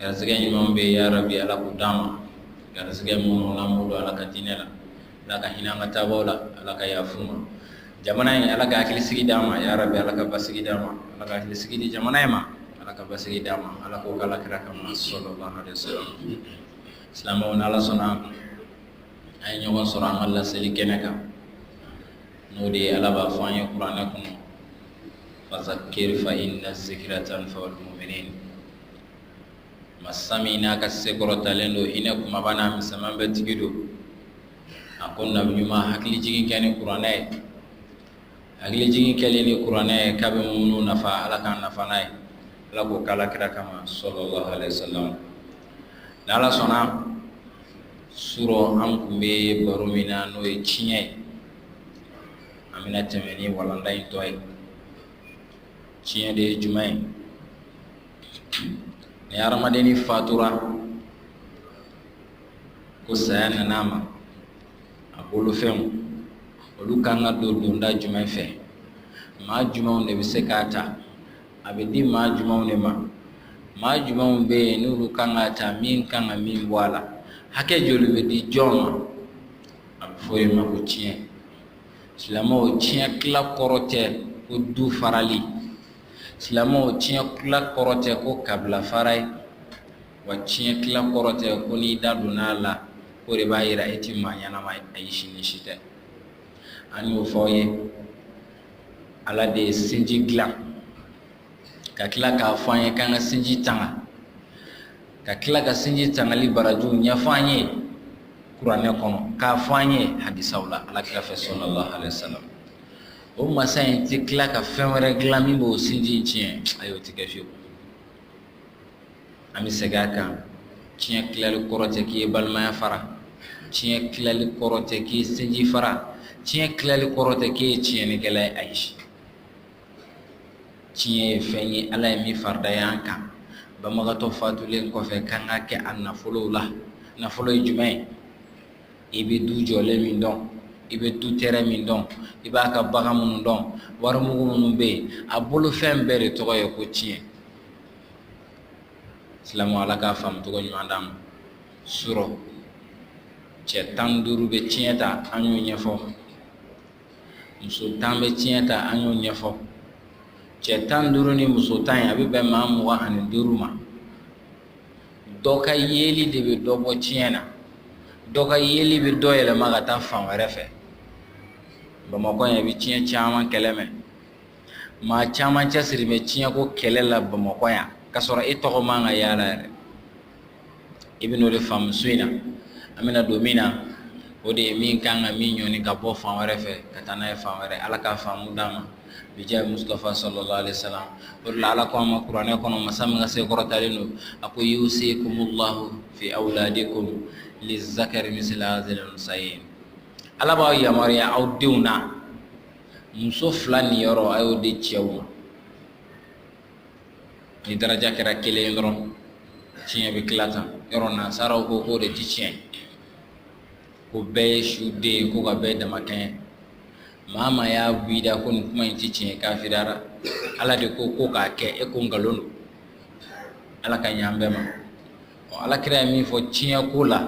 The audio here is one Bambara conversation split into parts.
Garisɛgɛ ɲumanw bɛɛ yarabi Ala k'o d'an ma, garisɛgɛ minnu n'an b'u don Ala ka diinɛ la, Ala ka hinɛ an ka taabagaw la, Ala ka yafa u ma, jamana in Ala ka hakilisigi d'an ma yarabi, Ala ka basigi d'an ma, Ala ka hakilisigi di jamana in ma, Ala ka basigi d'an ma, Ala k'o kɛ Ala kira kama sallallahu alayhi wa sallam, silamɛw n'Ala sɔnna an ye ɲɔgɔn sɔrɔ an ka laseli kɛnɛ kan n'o de ye Ala b'a fɔ an ye kuranɛ kɔnɔ masa min n'a ka se kɔrɔtalen don hinɛ kumaba n'a misɛnman bɛɛ tigi don a ko nabi ɲuman hakilijigin kɛ ni kuranɛ ye hakilijigin kɛlen ni kuranɛ ye k'a bɛ muminuw nafa ala k'an nafa n'a ye ala k'o kɛ ala kira kama sallallahu alayhi wa sallam ni ala sɔnna surɔ an tun bɛ baro min na n'o ye tiɲɛ ye an bɛna tɛmɛ ni walanda in tɔ ye tiɲɛ de ye jumɛn ye ni hadamaden fatura ko saya nana a ma a bolofɛnw olu kan ka don donda jumɛn fɛ maa jumɛnw de bɛ se k'a ta a bɛ di maa jumɛnw de ma maa jumɛnw bɛ yen n'olu kan k'a ta min kan ka min bɔ a la hakɛ joli bɛ di jɔn ma a bɛ fɔ o ma ko tiɲɛ silamɛw tiɲɛ tila kɔrɔ tɛ ko du farali silamɛw tiɲɛ tila kɔrɔ tɛ ko kabila fara ye wa tiɲɛ tila kɔrɔ tɛ ko n'i da donna a la k'o de b'a yira e ti maa ɲɛnama ye ayi si ni si tɛ an y'o fɔ aw ye ala de ye sinji dilan ka tila k'a fɔ an ye k'an ka sinji tanga ka tila ka sinji tangali barajiw ɲɛfɔ an ye kuranɛ kɔnɔ k'a fɔ an ye hadisaw la ala kira fɛ sallallahu alayhi wa sallam o masa in tɛ tila ka fɛn wɛrɛ dilan min b'o sinji in tiɲɛ ayi o tɛ kɛ fiyewu an bɛ segin a kan tiɲɛ tilali kɔrɔ tɛ k'i ye balimaya fara tiɲɛ tilali kɔrɔ tɛ k'i ye sinji fara tiɲɛ tilali kɔrɔ tɛ k'e ye tiɲɛnikɛla ye ayi tiɲɛ ye fɛn ye ala ye min faridaya an kan banbagatɔ fatulen kɔfɛ k'an ka kɛ a nafolow la nafolo ye jumɛn ye i bɛ du jɔlen min dɔn i bɛ du tɛrɛ min dɔn i b'a ka bagan minnu dɔn warimugu minnu bɛ yen a bolo fɛn bɛɛ de tɔgɔ ye ko tiɲɛ silamɛw ala k'a faamu cogo ɲuman d'an ma surɔ cɛ tan ni duuru bɛ tiɲɛ ta an y'o ɲɛfɔ muso tan bɛ tiɲɛ ta an y'o ɲɛfɔ cɛ tan duuru ni muso tan ye a bɛ bɛn maa mugan ani duuru ma dɔ ka yeli de bɛ dɔ bɔ tiɲɛ na dɔ ka yeli bɛ dɔ yɛlɛma ka taa fan wɛrɛ fɛ bamakɔ yan i bɛ tiɲɛ caman kɛlɛ mɛn maa caman cɛsiri bɛ tiɲɛko kɛlɛ la bamakɔ yan k'a sɔrɔ e tɔgɔ man ka y'a la yɛrɛ i bɛn'o de faamu su in na an bɛna don min na o de ye min kan ka min ɲɔni ka bɔ fan wɛrɛ fɛ ka taa n'a ye fan wɛrɛ ala k'a faamu d'an ma bijahi mustafa sallallahu alaihi wasallam o de la ala ko an ma kuranɛ kɔnɔ masa min ka se kɔrɔtalen don a ko yusikumullahu fi awladikum lizakari misla hazil unsayin ala b'aw yamaruya aw denw na muso fila niyɔrɔ a y'o di cɛw ma ni daraja kɛra kelen ye dɔrɔn tiɲɛ bɛ tila tan yɔrɔ nansaraw ko k'o de ti tiɲɛ ko bɛɛ ye su den ye ko ka bɛɛ dama kɛɲɛ maa maa y'a bɔ i da ko nin kuma in ti tiɲɛ kafiriyara ala de ko ko k'a kɛ e ko nkalon don ala ka ɲɛ an bɛɛ ma ɔ ala kira ye min fɔ tiɲɛ ko la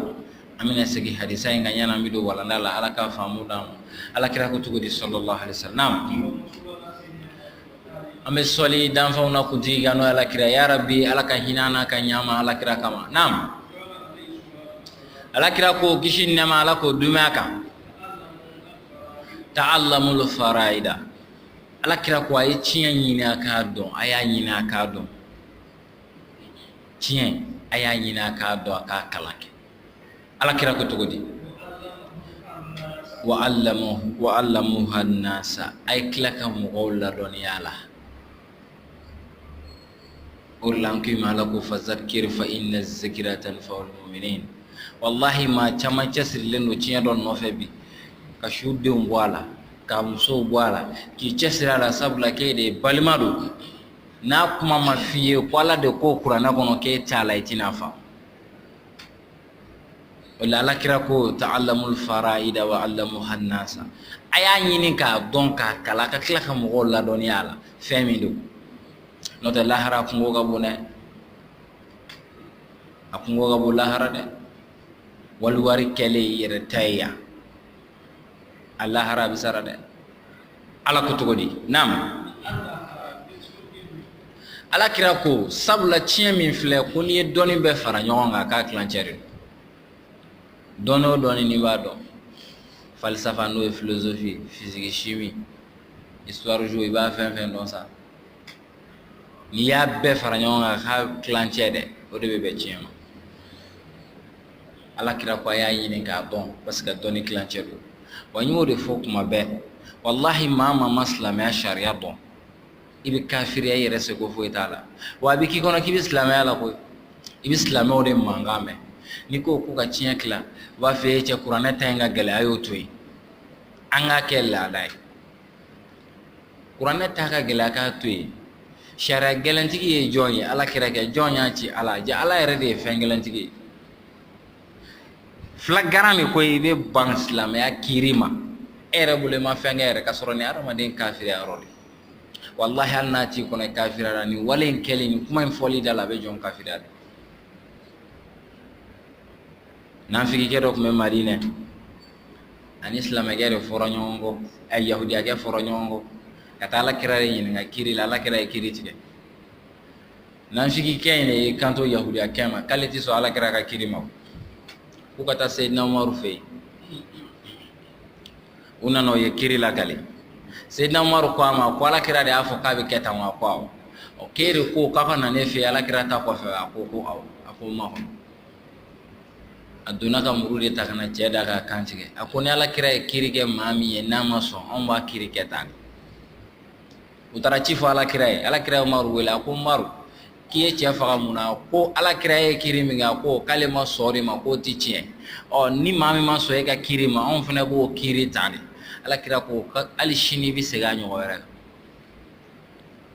an bɛna segin hadisa in kan yanni an bɛ don walanda la ala ka faamu d'an ma ala kira ko cogo di sallallahu alaihi wasallam an bɛ sɔli danfɛnw na kuntigi kan n'o ye alakira ya rabi ala ka hinɛ an na ka ɲɛ an ma alakira kama naam alakira ko kisi ni nɛɛma ala k'o duumɛ a kan ta'allamul faraida alakira ko a ye tiɲɛ ɲini a k'a dɔn a y'a ɲini a k'a dɔn tiɲɛ a y'a ɲini a k'a dɔn a k'a kalan kɛ alakira ko cogo di wa 'allamuha an-nasa a ye tila ka mɔgɔw ladɔnniya a la o de la an ko i ma ala ko fazakiri fa inna zikira tanfa'ul muminin walahi maa caman cɛsirilen don tiɲɛ dɔ nɔfɛ bi ka su denw bɔ a la ka musow bɔ a la k'i cɛsiri a la sabula k'e de balima don n'a kuma ma f'i ye ko ala de ko kuranɛ kɔnɔ k'e t'a la i tɛna faamu o la alakira ko ta'allamul fara'ida wa 'allamuha an-nasa a y'a ɲini k'a dɔn k'a kalan ka tila ka mɔgɔw ladɔnniya a la fɛn min don n'o tɛ lahara kungo ka bon dɛ a kungo ka bon lahara dɛ wali wari kɛlen i yɛrɛ ta ye yan a lahara a bɛ sara dɛ ala ko cogo di naam ala kira ko sabula tiɲɛ min filɛ ko n'i ye dɔnni bɛɛ fara ɲɔgɔn kan k'a tilancɛ de don dɔnni o dɔnni n'i b'a dɔn falsafa n'o ye philosophie physique chimie histoire géo i b'a fɛn fɛn dɔn sa n'i y'a bɛɛ fara ɲɔgɔn kan k'a tilancɛ dɛ o de bɛ bɛn tiɲɛ ma Ala kira ko a y'a ɲini k'a dɔn parce que dɔnni tilancɛ don wa n y'o de fɔ kuma bɛɛ walahi maa maa ma silamɛya sariya dɔn i bɛ kafiriya i yɛrɛ seko foyi t'a la wa a bɛ k'i kɔnɔ k'i bɛ silamɛya la koyi i bɛ silamɛw de mankan mɛn n'i ko k'u ka tiɲɛ tila u b'a fɔ e cɛ kuranɛ ta in ka gɛlɛn a y'o to yen an k'a kɛ laada ye kuranɛ ta ka gɛlɛn a k'a to yen sariya gɛlɛntigi ye jɔn ye ala kira kɛ jɔn y'a ci ala ja ala yɛrɛ de ye fɛn gɛlɛntigi ye fila garan de ko i bɛ ban silamɛya kiri ma e yɛrɛ bolo i ma fɛn kɛ yɛrɛ ka sɔrɔ ni hadamaden kafiriya yɔrɔ de walahi hali n'a t'i kɔnɔ i kafiriyara nin wale in kɛli nin kuma in fɔli da la a bɛ jɔn kafiriya de nafigikɛ dɔ tun bɛ madinɛ ani silamɛkɛ de fɔra ɲɔgɔn kɔ ɛ yahudiyakɛ fɔra ɲɔgɔn kɔ ka taa ala kira de ɲininka kiri la ala kira ye kiri tigɛ nafigikɛ in de y'i kanto yahudiyakɛ ma k'ale tɛ sɔn ala kira ka kiri ma k'u ka taa seyidina umaru fɛ yen u nana o ye kiri lakali seyidina umaru ko a ma ko ala kira de y'a fɔ k'a bɛ kɛ tan wa ko awɔ k'e de ko k'a ka na ne fɛ yen ala kira ta kɔfɛ a ko ko awɔ a ko n makɔnɔ a donna ka muru de ta ka na cɛ da k'a kan tigɛ a ko ni ala kira ye kiri kɛ maa min ye n'a ma sɔn anw b'a kiri kɛ tan u taara ci fɔ ala kira ye ala kira ye umaru wele a ko umaru k'i ye cɛ faga mun na ko ala kira ye kiri min kɛ a ko k'ale ma sɔn de ma k'o tɛ tiɲɛ ɔ ni maa min ma sɔn e ka kiri ma anw fana b'o kiri tan de ala kira ko hali sini bɛ segin a ɲɔgɔn wɛrɛ kan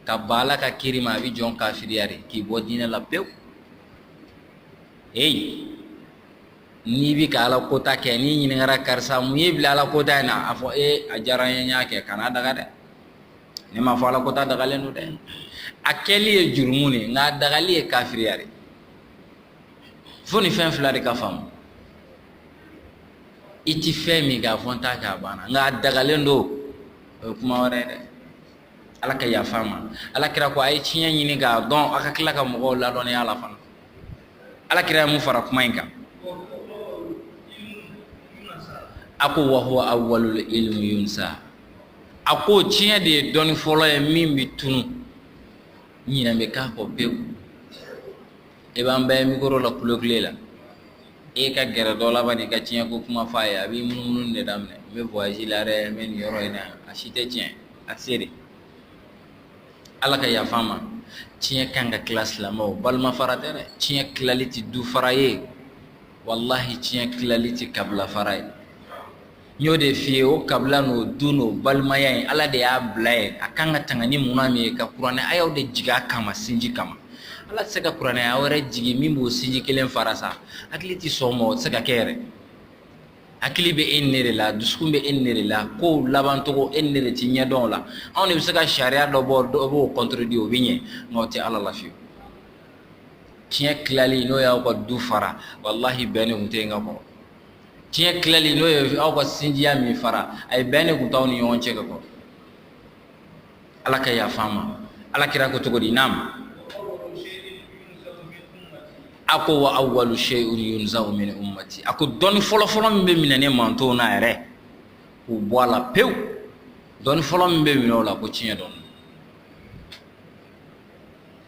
ka ban ala ka kiri ma a bɛ jɔn kafiriya de k'i bɔ diinɛ la pewu eyi n'i bɛ ka ala kota kɛ n'i ɲininkara karisa mun y'i bila ala kota in na a fɔ e a diyara n ye n y'a kɛ kan'a daga dɛ ne m'a fɔ ala kota dagalen don dɛ a kɛli ye jurumu de nka a dagali ye kafiriya de fo nin fɛn fila de ka faamu i ti fɛn min k'a fɔ n t'a kɛ a banna nka a dagalen don o ye kuma wɛrɛ ye dɛ ala ka yafa an ma ala kira ko a ye tiɲɛ ɲini k'a dɔn a ka tila ka mɔgɔw ladɔnniya a la fana ala kira ye mun fara kuma in kan a ko wa huwa awwalul ilmi yunsa a ko tiɲɛ de ye dɔnni fɔlɔ ye min bɛ tunu ɲinɛ bɛ k'a kɔ pewu e b'an bɛɛ mikoro la kulokule la e ka gɛrɛ dɔ la ban i ka tiɲɛ ko kuma fɔ a ye a b'i munumunu de daminɛ n bɛ voyage la dɛ n bɛ nin yɔrɔ in na a si tɛ tiɲɛ a tɛ se de ala ka yafa an ma tiɲɛ kan ka tila silamɛw balima fara tɛ dɛ tiɲɛ tilali tɛ du fara ye walahi tiɲɛ tilali tɛ kabila fara ye n y'o de f'i ye o kabila n'o du n'o balimaya in ala de y'a bila yen a kan ka tanga ni munna min ye ka kuranɛ ayaw de jigi a kama sinji kama ala tɛ se ka kuranɛ aya wɛrɛ jigi min b'o sinji kelen fara sa hakili tɛ sɔn o ma o tɛ se ka kɛ yɛrɛ hakili bɛ e ni ne de la dusukun bɛ e ni ne de la kow labancogo e ni ne de ti ɲɛdɔn o la anw de bɛ se ka sariya dɔ bɔ dɔ b'o kɔntorodi o bɛ ɲɛ nka o tɛ ala la fiyewu tiɲɛ tilali n'o y'aw ka du fara walahi bɛn de tun tɛ yen ka kɔrɔ tiɲɛ tilali n'o ye aw ka sinjiya min fara ayi bɛn de tun t'aw ni ɲɔgɔn cɛ ka kɔrɔ ala ka yafa an ma ala kira ko cogo di naam a ko wa awwalu shay'un yunzau min ummati a ko dɔnni fɔlɔfɔlɔ min bɛ minɛ ne mantonw na yɛrɛ k'o bɔ a la pewu dɔnni fɔlɔ min bɛ minɛ o la ko tiɲɛ dɔn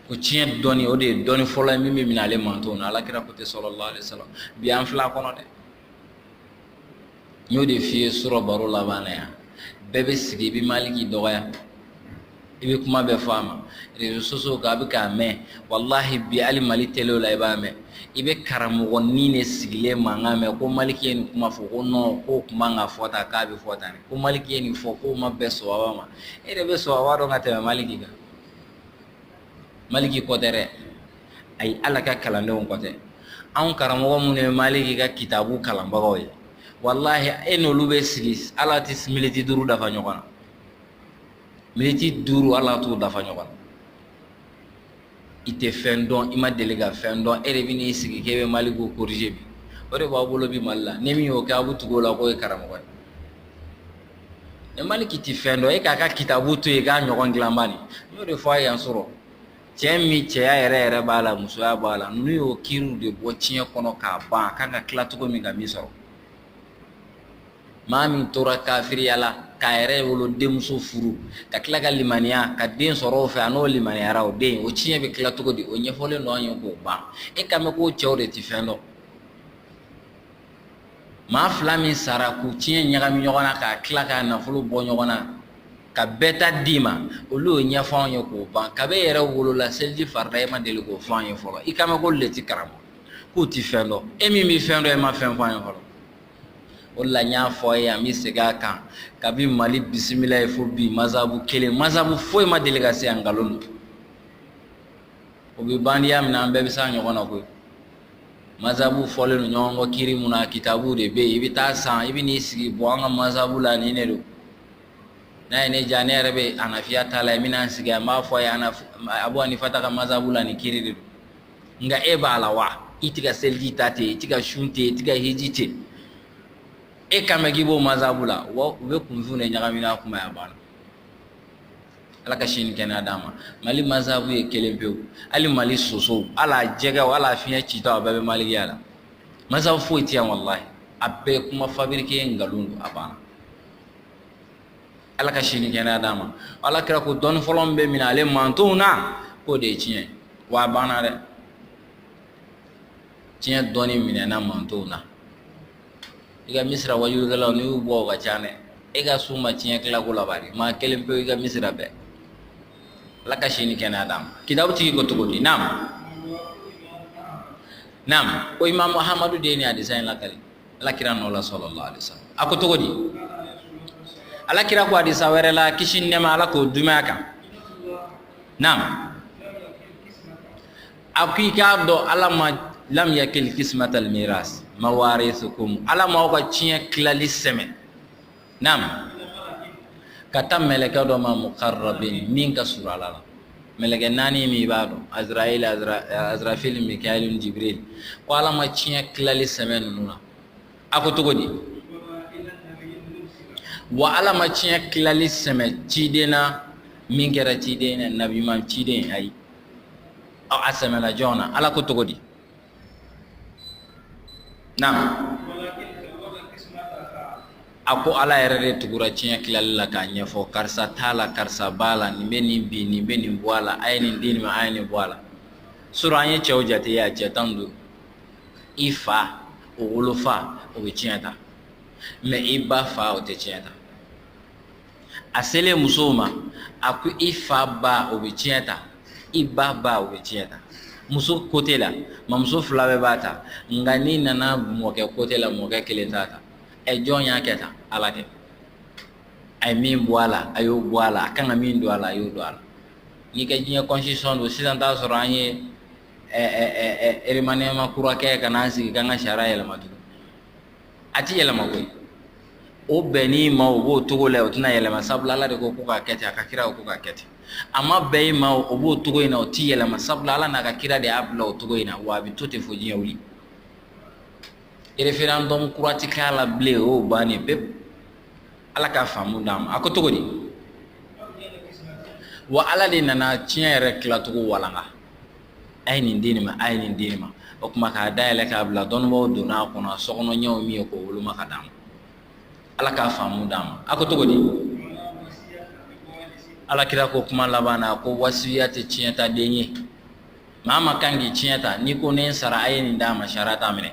ko tiɲɛ dɔnni o de ye dɔnni fɔlɔ ye min bɛ minɛ ale mantonw na ala kira ko ten salalahu alayihi wasalamu bi an filɛ a kɔnɔ dɛ n y'o de f'i ye surɔ baro laban na yan bɛɛ bɛ sigi i bɛ maliki dɔgɔya i bɛ kuma bɛɛ fɔ a ma rezo sosiyo kan an bɛ k'a mɛn walahi bi hali mali telew la i b'a mɛn i bɛ karamɔgɔnin de sigilen mankan mɛn ko maliki ye nin kuma fɔ ko nɔn k'o kuma man kan ka fɔ tan k'a bɛ fɔ tan ko maliki ye nin fɔ k'o ma bɛn suna ma e de bɛ suna dɔn ka tɛmɛ maliki kan maliki ko tɛ dɛ ayi ale ka kalandenw ko tɛ anw karamɔgɔ minnu ye maliki ka kitabu kalanbagaw ye walahi e n'olu bɛ sigi ala tɛ militi duuru dafa ɲɔgɔn na militi duuru ala t'u dafa ɲɔgɔn na i tɛ fɛn dɔn i ma deli ka fɛn dɔn e de bɛ n'i sigi k'e bɛ maliki korije bi o de b'an bolo bi mali la ni min y'o kɛ an bɛ tugu o la k'o ye karamɔgɔ ye E maliki tɛ fɛn dɔn e k'a ka kitabu to yen k'a ɲɔgɔn dilan bani n y'o de fɔ aw ye yan surɔ cɛ min cɛya yɛrɛ yɛrɛ b'a la musoya b'a la n'u y'o kiriw de bɔ tiɲɛ kɔnɔ k'a ban a kan ka tila cogo min ka min sɔrɔ maa min tora kafiriya la k'a yɛrɛwolo denmuso furu ka tila ka limaniya ka den sɔrɔ o fɛ a n'o limaniyara o den o tiɲɛ bɛ tila cogo di o ɲɛfɔlen don an ye k'o ban e kan bɛ k'o cɛw de tɛ fɛn dɔn maa fila min sara k'u tiɲɛ ɲagami ɲɔgɔn na k'a tila k'a nafolo bɔ ɲɔgɔn na ka bɛɛ ta d'i ma olu y'o ɲɛfɔ anw ye k'o ban kab'e yɛrɛ wolola seliji farida e ma deli k'o fɔ an ye fɔlɔ i kan bɛ k'olu de ti karamɔgɔ k'u ti fɛn dɔn e min bɛ fɛn dɔn e ma fɛn fɔ an ye fɔlɔ o la n y'a fɔ aw ye an bɛ segin a kan kabi mali bisimilayi fo bi mazabu kelen mazabu foyi ma deli ka se yan nkalon don o bɛ bandiya min an bɛɛ bɛ se ɲɔgɔn na koyi masabu fɔlen don ɲɔgɔn kɔ kiri mun na kitabu de bɛ yen i bɛ t'a san i bɛ n'i sigi bɔ an ka masabu la nin de don n'a ye ne diya ne yɛrɛ bɛ hanafiya ta la n bɛna n sigi n b'a fɔ a ye abu hanifata ka masabu la nin kiri de don nka e b'a la wa i tɛ ka seliji ta ten i tɛ ka sun ten i tɛ ka hiji ten e kan bɛ k'i b'o masabu la wa u bɛ kunfin de ɲagami n'a kuma y'a banna ala ka si ni kɛnɛya d'a ma mali masabu ye kelen pewu hali mali sosow a la jɛgɛw a la fiɲɛ citɔ a bɛɛ bɛ malikiya la masabu foyi tɛ yan walahi a bɛɛ kuma fabriqué nkalon don a banna ala ka si ni kɛnɛya d'a ma ala kira ko dɔnni fɔlɔ min bɛ minɛ ale mantonw na k'o de ye tiɲɛ wa a banna dɛ tiɲɛ dɔnni minɛna mantonw na i ka misira wajulikɛlaw n'i y'u bɔ u ka ca dɛ e ka su ma tiɲɛ tilako laban de maa kelen pewu i ka misira bɛɛ ala ka si ni kɛnɛya d'a ma kitabu tigi ko cogo di naam naam ko imam muhammadu de ye nin hadisa in lakali ala kira nɔ la sallallahu alaihi wasallam a ko cogo di ala kira ko hadisa wɛrɛ la kisi ni nɛɛma ala k'o duma a kan naam a ko i k'a dɔn ala ma lam yakil kismatal miras mawarisukum ala ma aw ka tiɲɛ tilali sɛmɛ naam ka taa mɛlɛkɛ dɔ ma mukarrabin min ka surun ala la mɛlɛkɛ naani min i b'a dɔn azrail azrafil mikael jibril ko ala ma tiɲɛ tilali sɛmɛ ninnu na a ko cogo di wa ala ma tiɲɛ tilali sɛmɛ ciden na min kɛra ciden na nabiman ciden ayi aw a sɛmɛna jɔn na ala ko cogo di naam a ko ala yɛrɛ de tugura tiɲɛ tilali la k'a ɲɛfɔ karisa t'a la karisa b'a la nin bɛ nin bin nin bɛ nin bɔ a la a ye nin di nin ma a ye nin bɔ a la surɔ an ye cɛw jate yan cɛ tan don i fa o wolofa o bɛ tiɲɛ ta mais i ba fa o tɛ tiɲɛ ta a selen musow ma a ko i fa ba o bɛ tiɲɛ ta i ba ba o bɛ tiɲɛ ta muso côté la mamuso fila bɛɛ b'a ta nka n'i nana mɔkɛ côté la mɔkɛ kelen t'a ta ɛ jɔn y'a kɛ tan ala kɛ a ye min bɔ a la a y'o bɔ a la a kan ka min don a la a y'o don a la n'i ka diɲɛ constitution don sisan t'a sɔrɔ an ye remaniement kura kɛ ka n'an sigi k'an ka sariya yɛlɛma tugun a tɛ yɛlɛma koyi o bɛnn'i ma o b'o cogo la o tɛna yɛlɛma sabula ala de ko ko k'a kɛ ten a ka kira o ko k'a kɛ ten a ma bɛn i ma o b'o cogo in na o tɛ yɛlɛma sabula ala n'a ka kira de y'a bila o cogo in na wa a bɛ to ten fo diɲɛ wuli référendum kura tɛ k'a la bilen o y'o bannen pewu ala ka faamu d'an ma a ko cogo di wa ala de nana tiɲɛ yɛrɛ tilacogo walanga a ye nin di nin ma a ye nin di nin ma o kuma k'a da yɛlɛ k'a bila dɔnnibaw donna a kɔnɔ sokɔnɔɲɔgɔnw min ye k'o woloma ka d'a ma ala k'a faamu d'an ma a ko cogo di ala kira ko kuma laban na ko wasiya tɛ tiɲɛtaden ye maa min kan k'i tiɲɛ ta n'i ko ne sara a ye nin d'a ma sariya t'a minɛ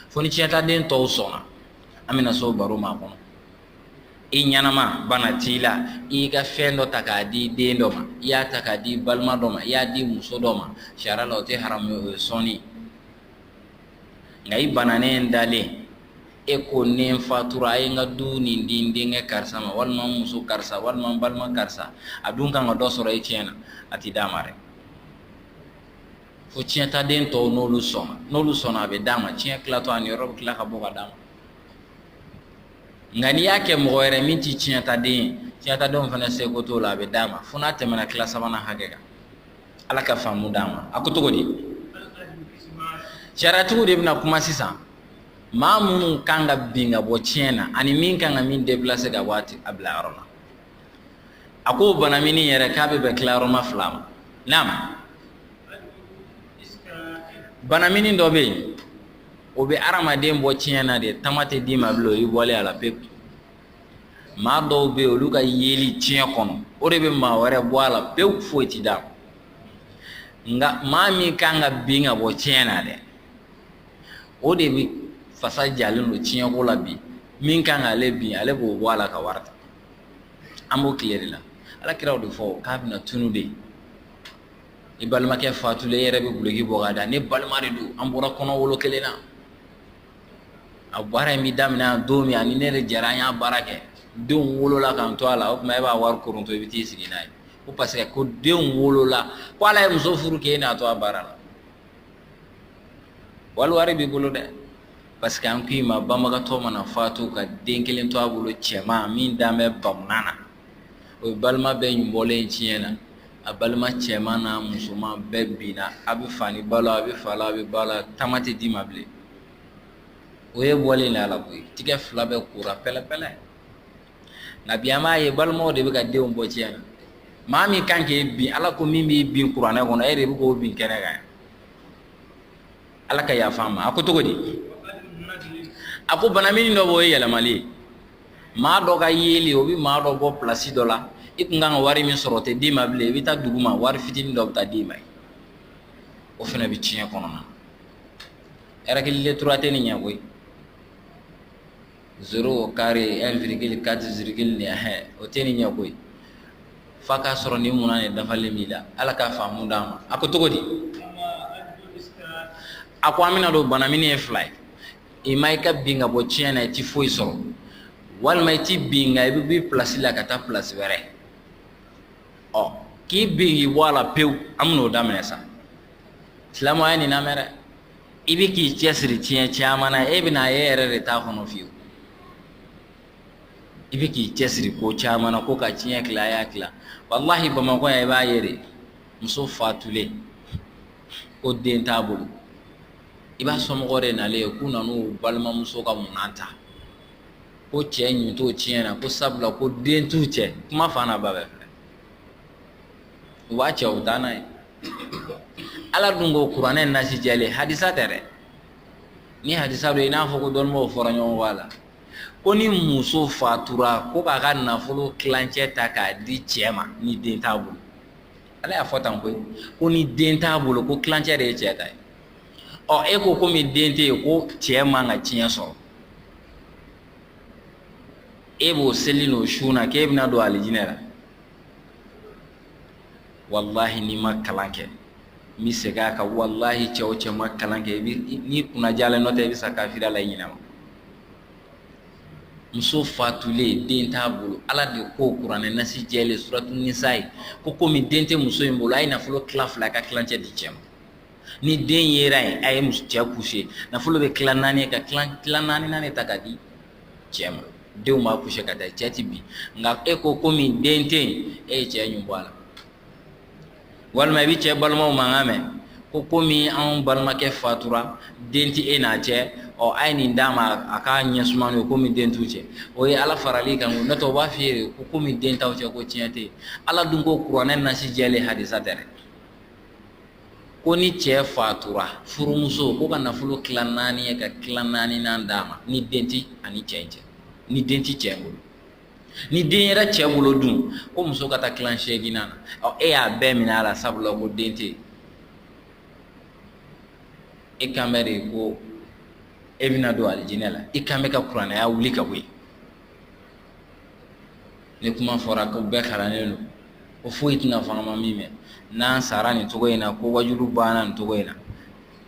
fo ni tiɲɛtaden tɔw sɔnna an bɛna s'o baro ma kɔnɔ i ɲɛnama bana t'i la i y'i ka fɛn dɔ ta k'a di den dɔ ma i y'a ta k'a di balima dɔ ma i y'a di muso dɔ ma sariya la o tɛ haramu o ye sɔnni nka i bananen dalen e ko ni n fatura a ye n ka du nin di n denkɛ karisa ma walima n muso karisa walima n balima karisa a dun kan ka dɔ sɔrɔ e tiɲɛ na a tɛ d'a ma dɛ fo tiɲɛtaden tɔw n'olu sɔnna n'olu sɔnna a bɛ d'a ma tiɲɛ tilatɔ a niyɔrɔ bɛ tila ka bɔ ka d'a ma nka n'i y'a kɛ mɔgɔ wɛrɛ min tɛ tiɲɛtaden ye tiɲɛtadenw fana seko t'o la a bɛ d'a ma fo n'a tɛmɛna tila sabanan hakɛ kan ala ka faamu d'an ma a ko cogo di sariyatigiw de bɛna kuma sisan maa minnu kan ka bin ka bɔ tiɲɛ na ani min kan ka min déplacer ka bɔ a bila yɔrɔ la a ko banamini yɛrɛ k'a bɛ bɛn tilayɔrɔma fila ma naam banamini dɔ bɛ yen o bɛ adamaden bɔ tiɲɛ na de tama tɛ d'i ma bilen o y'i bɔlen a la pewu maa dɔw bɛ yen olu ka yeli tiɲɛ kɔnɔ o de bɛ maa wɛrɛ bɔ a la pewu foyi tɛ d'a ma nka maa min kan ka bin ka bɔ tiɲɛ na dɛ o de bɛ fasa jalen don tiɲɛko la bi min kan k'ale bin ale b'o bɔ a la ka wari ta an b'o tile de la ala kira o de fɔ k'a bɛna tunu de i balimakɛ fatulen e yɛrɛ bɛ duloki bɔ k'a da ne balima de don an bɔra kɔnɔ wolo kelen na a baara in bɛ daminɛ don min a ni ne de jɛra an y'a baara kɛ denw wolola k'an to a la o tuma e b'a wari kɔrɔta i bɛ t'i sigi n'a ye ko parce que ko denw wolola ko ale ye muso furu k'e n'a to a baara la wali wari b'i bolo dɛ parce que an ko i ma banbagatɔ mana fatu ka den kelen to a bolo cɛman min dan bɛ bamanan na o ye balima bɛɛ in bɔlen tiɲɛ na a balima cɛman n'a musoman bɛɛ binna a bɛ fa ni ba la a bɛ fa la a bɛ ba la tama tɛ d'i ma bilen o y'i bɔlen de a la koyi tigɛ fila bɛɛ kora pɛlɛpɛlɛ nka bi an b'a ye balimaw de bɛ ka denw bɔ tiɲɛ na maa min kan k'e bin ala ko min b'i bin kuranɛ kɔnɔ e de bɛ k'o bin kɛnɛ kan ala ka yafa a ma a ko cogo di a ko banamini dɔ b'o ye yɛlɛmali ye maa dɔ ka yeli o bɛ maa dɔ bɔ plasi dɔ la i tun kan ka wari min sɔrɔ o tɛ d'i ma bilen i bɛ taa duguma wari fitinin dɔ bɛ taa d'i ma yen o fana bɛ tiɲɛ kɔnɔna règle de trois tɛ nin ɲɛ koyi zéro carré un virgule quatre nin o tɛ nin ɲɛ koyi fa k'a sɔrɔ limaniya dafalen b'i la ala k'a faamu d'an ma a ko cogo di a ko an bɛn'a dɔn banamini ye fila ye imma i ka bin ka bɔ tiɲɛ na i tɛ foyi sɔrɔ walima i tɛ bin nka i bɛ b'i plasi la ka taa plasi wɛrɛ ɔ k'i bin k'i bɔ a la pewu an bɛn'o daminɛ sa silamɛw a ye nin lamɛn dɛ i bɛ k'i cɛsiri tiɲɛ caman na e bɛn'a ye e yɛrɛ de t'a kɔnɔ fiyewu i bɛ k'i cɛsiri ko caman na ko ka tiɲɛ tila a y'a tila walahi bamakɔ yan i b'a ye de muso fatulen ko den t'a bolo i b'a somɔgɔ de nalen ye k'u nan'u balimamuso ka munan ta ko cɛ ɲin t'o tiɲɛ na ko sabula ko den t'u cɛ kuma fa n'a ba bɛɛ filɛ u b'a cɛ u taa n'a ye ala dun ko kuranɛ nasi jɛlen hadisa tɛ dɛ ni hadisa don i n'a fɔ ko dɔnnibaaw fɔra ɲɔgɔn kɔ a la ko ni muso fatura ko k'a ka nafolo tilancɛ ta k'a di cɛ ma ni den t'a bolo ala y'a fɔ tan koyi ko ni den t'a bolo ko tilancɛ de ye cɛ ta ye ɔ e ko komi den tɛ yen ko cɛ man ka tiɲɛ sɔrɔ e b'o seli n'o sun na k'e bɛna don alijinɛ la walahi n'i ma kalan kɛ n bɛ segin a kan walahi cɛ o cɛ ma kalan kɛ n'i kunnajalen nɔ tɛ i bɛ sa kafiriya la i ɲinɛ ma muso fatulen den t'a bolo ala de ko kuranɛ nasi jɛlen suratu nisayi ko komi den tɛ muso in bolo a ye nafolo tila fila ka tilancɛ di cɛ ma ni den yera yen a ye cɛ pousser nafolo bɛ tila naani ka tila naaninan ta ka di cɛ ma denw b'a pousser ka taa cɛ tɛ bin nka e ko komi den tɛ yen e ye cɛ ɲun bɔ a la walima i bɛ cɛ balimaw mankan mɛn ko ko komi anw balimakɛ fatura den tɛ e n'a cɛ ɔ a ye nin d'a ma a k'a ɲɛ suma n'o ye komi den t'u cɛ o ye ala farali kan n'o tɛ u b'a f'i ye ko komi den t'aw cɛ ko tiɲɛ tɛ yen ala dun ko kuranɛ nasi jɛlen hadisa tɛ dɛ ko ni cɛ fatura furumuso ko ka nafolo tila naani ye ka tila naaninan d'a ma ni den tɛ a ni cɛ cɛ ni den tɛ cɛ bolo ni den yera cɛ bolo dun ko muso ka taa tila seeginnan na ɔ e y'a bɛɛ minɛ a la sabula ko den tɛ e kan bɛ de ko e bɛna don alijinɛ la i kan bɛ ka kuranɛ aya wuli ka bɔ yen ni kuma fɔra ko bɛɛ kalannen don ko foyi tɛna fɔ an ma min mɛn n'an sara nin cogo in na ko wajulu banna nin cogo in na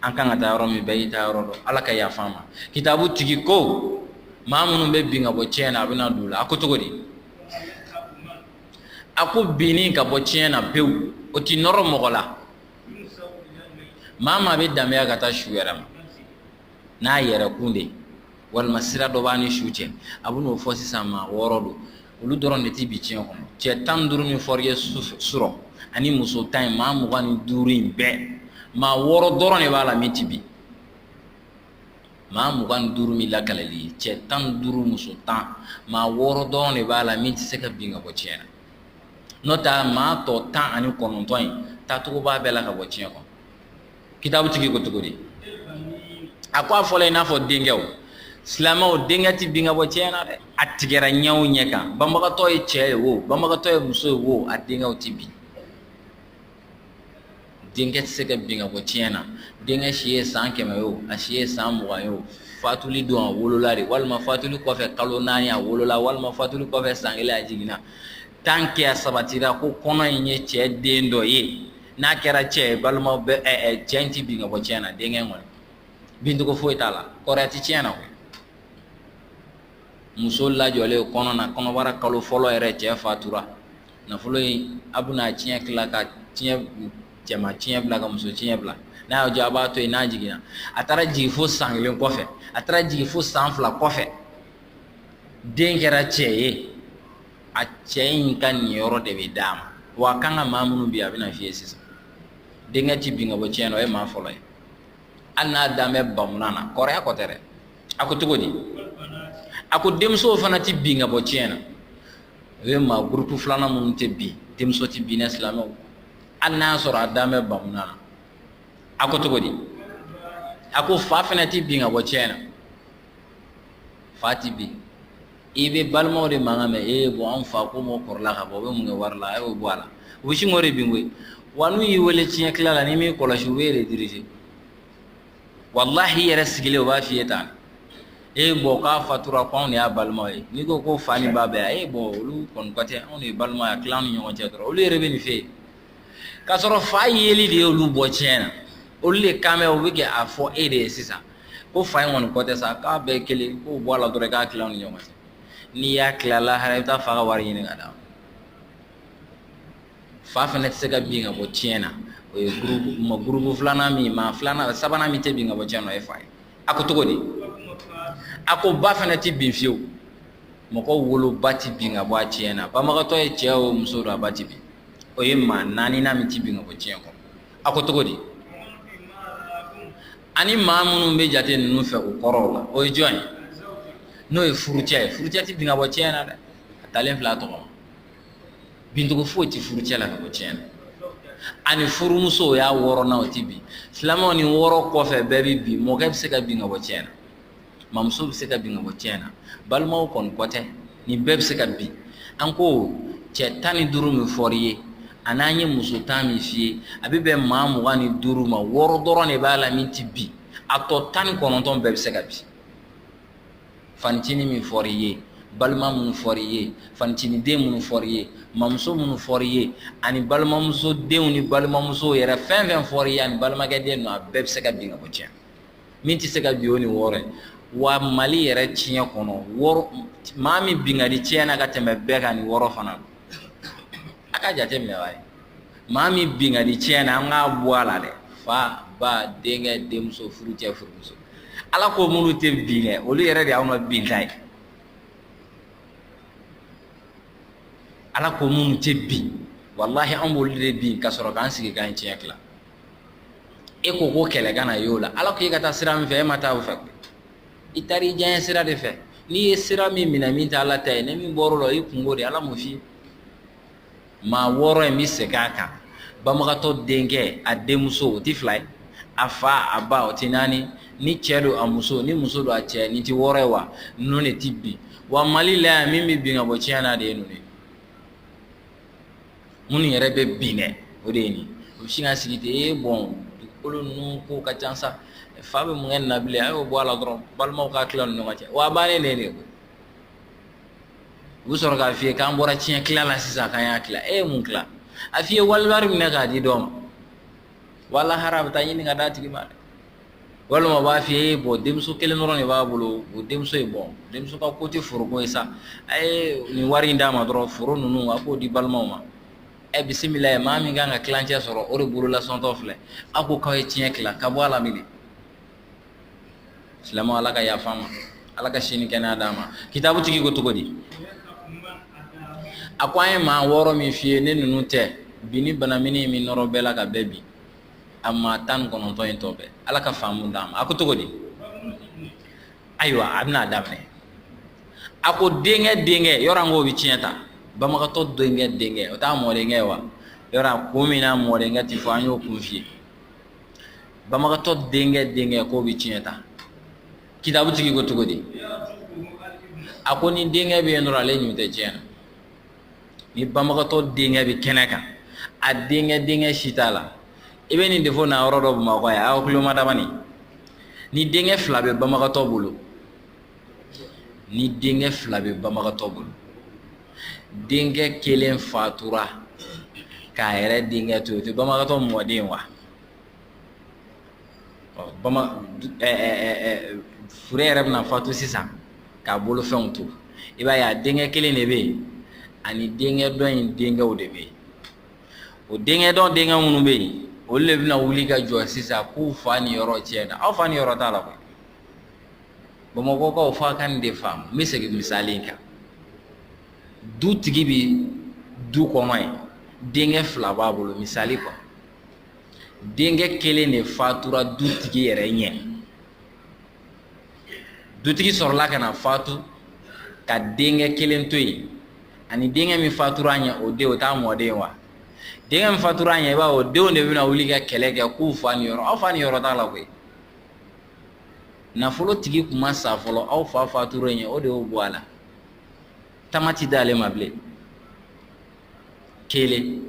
an kan ka taa yɔrɔ min bɛɛ y'i taa yɔrɔ dɔn ala ka yafa an ma kitabu tigi ko maa minnu bɛ bin ka bɔ tiɲɛ na a bɛna don o la a ko cogo di a ko binni ka bɔ tiɲɛ na pewu o ti nɔrɔ mɔgɔ la maa maa bɛ danbeya ka taa su yɛrɛ ma n'a yɛrɛ kun de ye walima sira dɔ b'a ni su cɛ a bɛn'o fɔ sisan maa wɔɔrɔ don olu dɔrɔn de tɛ bin tiɲɛ kɔnɔ cɛ tan duuru min fɔr'i ye surɔ ani muso tan in maa mugan ni duuru in bɛɛ maa wɔɔrɔ dɔrɔn de b'a la min tɛ bin maa mugan ni duuru min lakalal'i ye cɛ tan duuru muso tan maa wɔɔrɔ dɔrɔn de b'a la min tɛ se ka bin ka bɔ tiɲɛ na n'o tɛ maa tɔ tan ani kɔnɔntɔn in taacogo b'a bɛɛ la ka bɔ tiɲɛ kɔnɔ kitabu tigi ko cogo di a ko a fɔla i n'a fɔ denkɛw silamɛw denkɛ ti bin ka bɔ tiɲɛ na dɛ a tigɛra ɲɛ o ɲɛ kan banbagatɔ ye cɛ ye wo banbagatɔ ye muso ye wo a denkɛw ti bin denkɛ tɛ se ka bin ka bɔ tiɲɛ na denkɛ si ye san kɛmɛ ye o a si ye san mugan ye o fatuli don a wolola de walima fatuli kɔfɛ kalo naani a wolola walima fatuli kɔfɛ san kelen a jiginna tant que a sabatira ko kɔnɔ in ye cɛ den dɔ ye n'a kɛra cɛ ye balimaw bɛ ɛ ɛ cɛ in ti bin ka bɔ tiɲɛ na denkɛ kɔni bincogo foyi t'a la kɔrɔya ti tiɲɛ na muso lajɔlen kɔnɔ na kɔnɔbara kalo fɔlɔ yɛrɛ cɛ fatura nafolo in a bɛna tiɲɛ tila ka tiɲɛ cɛma tiɲɛ bila ka muso tiɲɛ bila n'a y'a jɔ a b'a to yen n'a jiginna a taara jigin fo san kelen kɔfɛ a taara jigin fo san fila kɔfɛ den kɛra cɛ ye a cɛ in ka niyɔrɔ de bɛ d'a ma wa a kan ka maa minnu bin a bɛna f'i ye sisan denkɛ ti bin ka bɔ tiɲɛ na o ye maa fɔlɔ ye hali n'a dan bɛ bamunan na kɔrɔya ko tɛ dɛ a ko cogo di a ko denmusow fana tɛ bin ka bɔ tiɲɛ na o ye maa gurupu filanan minnu tɛ bin denmuso tɛ bin dɛ silamɛw hali n'a y'a sɔrɔ a dan bɛ bamunan na a ko cogo di a ko fa fana tɛ bin ka bɔ tiɲɛ na fa tɛ bin i bɛ balimaw de mankan mɛn ee bɔn an fa ko mɔ kɔrɔla ka bɔ o bɛ mun kɛ wari la a y'o bɔ a la u bɛ sin k'o de bin koyi wa n'u y'i wele tiɲɛ tila la n'i m'i kɔlɔsi u b'e de dirije walahi i yɛrɛ sigilen u b'a f'i ye tan e bɔn k'a fatura ko anw de y'a balimaw ye n'i ko ko fa ni ba bɛ yan bɔn olu kɔni ko tɛ anw de ye balimaw ye a tila an ni ɲɔgɔn cɛ dɔrɔn olu yɛrɛ bɛ nin fɛ yen k'a sɔrɔ fa yeli de ye olu bɔ tiɲɛ na olu de kan bɛ u bɛ kɛ a fɔ e de ye sisan ko fa in kɔni ko tɛ sa k'a bɛɛ kelen k'o bɔ a la dɔrɔn k'a tila ni ɲɔgɔn cɛ n'i y'a tila lahara i bɛ taa fa ka wari ɲini ka d'a ma fa fana tɛ se ka bin ka bɔ tiɲɛ na o ye maa gurubu filanan min maa filanan sabanan min tɛ bin ka bɔ tiɲɛ na o ye fa ye a ko cogo di a ko ba fana tɛ bin fiyewu mɔgɔ woloba tɛ bin ka bɔ a tiɲɛ na banbagatɔ ye cɛ o muso don a ba tɛ bin o ye maa naaninan min tɛ bin ka bɔ tiɲɛ kɔnɔ a ko cogo di ani maa minnu bɛ jate ninnu fɛ u kɔrɔw la o ye jɔn ye n'o ye furucɛ ye furucɛ tɛ bin ka bɔ tiɲɛ na dɛ a talen filɛ a tɔgɔ ma bincogo foyi tɛ furucɛ la ka bɔ tiɲɛ na ani furumuso o y'a wɔɔrɔnan o tɛ bin silamɛw nin wɔɔrɔ kɔfɛ bɛɛ bɛ bin mɔkɛ bɛ se ka bin ka bɔ tiɲɛ na mamuso bɛ se ka bin ka bɔ tiɲɛ na balimaw kɔni ko tɛ nin bɛɛ bɛ se ka bin an ko cɛ tan ni duuru min fɔr'i ye a n'an ye muso tan min f'i ye a bɛ bɛn maa mugan ni duuru ma wɔɔrɔ dɔrɔn de b'a la min tɛ bin a tɔ tan ni kɔnɔntɔn bɛɛ bɛ se ka bin fancinin min fɔr'i ye balima minnu fɔr'i ye fancinin den minnu fɔr'i ye mamuso minnu fɔr'i ye ani balimamuso denw ni balimamuso yɛrɛ fɛn fɛn fɔr'i ye ani balimakɛ den ninnu a bɛɛ bɛ se ka bin ka bɔ tiɲɛ min tɛ se ka bin o nin wɔɔrɔ ye wa mali yɛrɛ tiɲɛ kɔnɔ maa min bin ka di tiɲɛ na ka tɛmɛ bɛɛ kan nin wɔɔrɔ fana don a ka jate minɛ wa ye maa min bin ka di tiɲɛ na an k'a bɔ a la dɛ fa ba denkɛ denmuso furucɛ furumuso ala ko minnu tɛ bin kɛ olu yɛrɛ de y'anw ka binta ye ala ko minnu tɛ bin walahi an b'olu de bin ka sɔrɔ k'an sigi k'an tiɲɛ tila e ko ko kɛlɛ kana y'o la ala ko i ka taa sira min fɛ e ma taa o fɛ i taara i diyanye sira de fɛ n'i ye sira min minɛ min tɛ ala ta ye ni min bɔr'a la i kunko de ala m'o f'i ye maa wɔɔrɔ n bɛ segin a kan banbagatɔ denkɛ a denmuso o tɛ fila ye a fa a ba o tɛ naani ni cɛ don a muso ni muso don a cɛ nin tɛ wɔɔrɔ ye wa ninnu de tɛ bin wa mali la yan min bɛ bin ka bɔ tiɲɛ na de ye ninnu ye minnu yɛrɛ bɛ bin dɛ o de ye nin u bɛ sin ka sigi ten ee bɔn dugukolo ninnu ko ka ca sa fa bɛ mun kɛ nin na bilen a y'o bɔ a la dɔrɔn balimaw k'a tila ni ɲɔgɔn cɛ wa a bannen de ye de koyi u bɛ sɔrɔ k'a f'i ye k'an bɔra tiɲɛ tila la sisan k'an y'a tila e ye mun tila a f'i ye wali wari minɛ k'a di dɔ ma wa lahara a bɛ taa ɲini ka d'a tigi ma dɛ walima u b'a f'i ye bɔn denmuso kelen dɔrɔn de b'a bolo o denmuso ye bɔn denmuso ka ko tɛ foro ko ye sa a ye nin wari in d'a ma dɔrɔn foro ninnu a k'o di balimaw ma ɛ bisimila ye maa min kan ka tilancɛ sɔrɔ o de bolo lasɔntɔ filɛ aw ko k'aw ye tiɲɛ tila ka bɔ a la minɛ silamɛ ala ka yaf'a ma ala ka si ni kɛnɛya d'a ma kitabu tigi ko cogo di a ko an ye maa wɔɔrɔ min f'i ye ne ninnu tɛ bin ni bana min ni min nɔrɔ bɛɛ la ka bɛɛ bin a maa tan kɔnɔntɔn in tɔ bɛɛ ala ka faamu d'an ma a ko cogo di ayiwa a bɛna a daminɛ a ko denkɛ denkɛ yɔrɔ an k'o bɛ tiɲɛ ta banbagatɔ denkɛ denkɛ o t'a mɔdenkɛ wa yɔrɔ ko mun na mɔdenkɛ ti fɔ an y'o kun f'i ye banbagatɔ denkɛ denkɛ k'o bɛ tiɲɛ ta kitabu tigi ko cogo di a ko ni denkɛ bɛ yen dɔrɔn ale ɲun tɛ tiɲɛ na ni banbagatɔ denkɛ bɛ kɛnɛ kan a denkɛ denkɛ si t'a la i bɛ nin de fɔ na yɔrɔ dɔ bamakɔ yan aw tulo mada bani ni denkɛ fila bɛ banbagatɔ bolo ni denkɛ fila bɛ banbagatɔ bolo denkɛ kelen fatura k'a yɛrɛ denkɛ to yen o tɛ banbagatɔ mɔden wa ɔ bama ɛɛ ɛɛ fure yɛrɛ bɛna fatu sisan k'a bolofɛnw to i b'a ye a denkɛ kelen de bɛ yen ani denkɛ dɔ in denkɛw de bɛ yen o denkɛ dɔ denkɛ minnu bɛ yen olu de bɛna wuli ka jɔ sisan k'u fa niyɔrɔ tiɲɛ na aw fa niyɔrɔ t'a la koyi bamakɔkaw f'a ka nin de faamu n bɛ segin misali in kan dutigi bɛ du kɔnɔ yen denkɛ fila b'a bolo misali kɔnɔ denkɛ kelen de fatura dutigi yɛrɛ ɲɛ dutigi sɔrɔla ka na fatu ka denkɛ kelen to yen ani denkɛ min fatura a ɲɛ o den o t'a mɔden wa denkɛ min fatura a ɲɛ i b'a o denw de bɛna wuli ka kɛlɛ kɛ k'u fa niyɔrɔ aw fa niyɔrɔ t'a la koyi nafolotigi kun ma sa fɔlɔ aw fa fatura ɲɛ o de y'o bɔ a la tama ti d'ale ma bilen kelen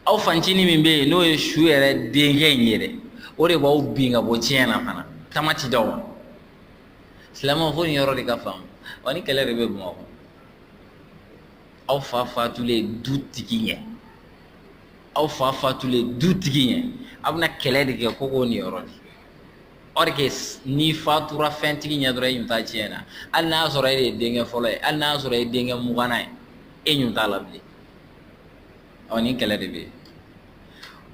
aw fancinin min bɛ yen n'o ye su yɛrɛ denkɛ in ye dɛ o de b'aw bin ka bɔ tiɲɛ na fana tama ti d'aw ma silamɛw fo nin yɔrɔ de ka faamu wa nin kɛlɛ de bɛ bamakɔ aw fa fatulen dutigi ɲɛ aw fa fatulen dutigi ɲɛ aw bɛna kɛlɛ de kɛ ko k'o niyɔrɔ di or que n'i fatura fɛntigi ɲɛ dɔrɔn i ɲun t'a tiɲɛ na hali n'a sɔrɔ e de ye denkɛ fɔlɔ ye hali n'a sɔrɔ e denkɛ muganan ye e ɲun t'a la bilen ɔ nin kɛlɛ de bɛ yen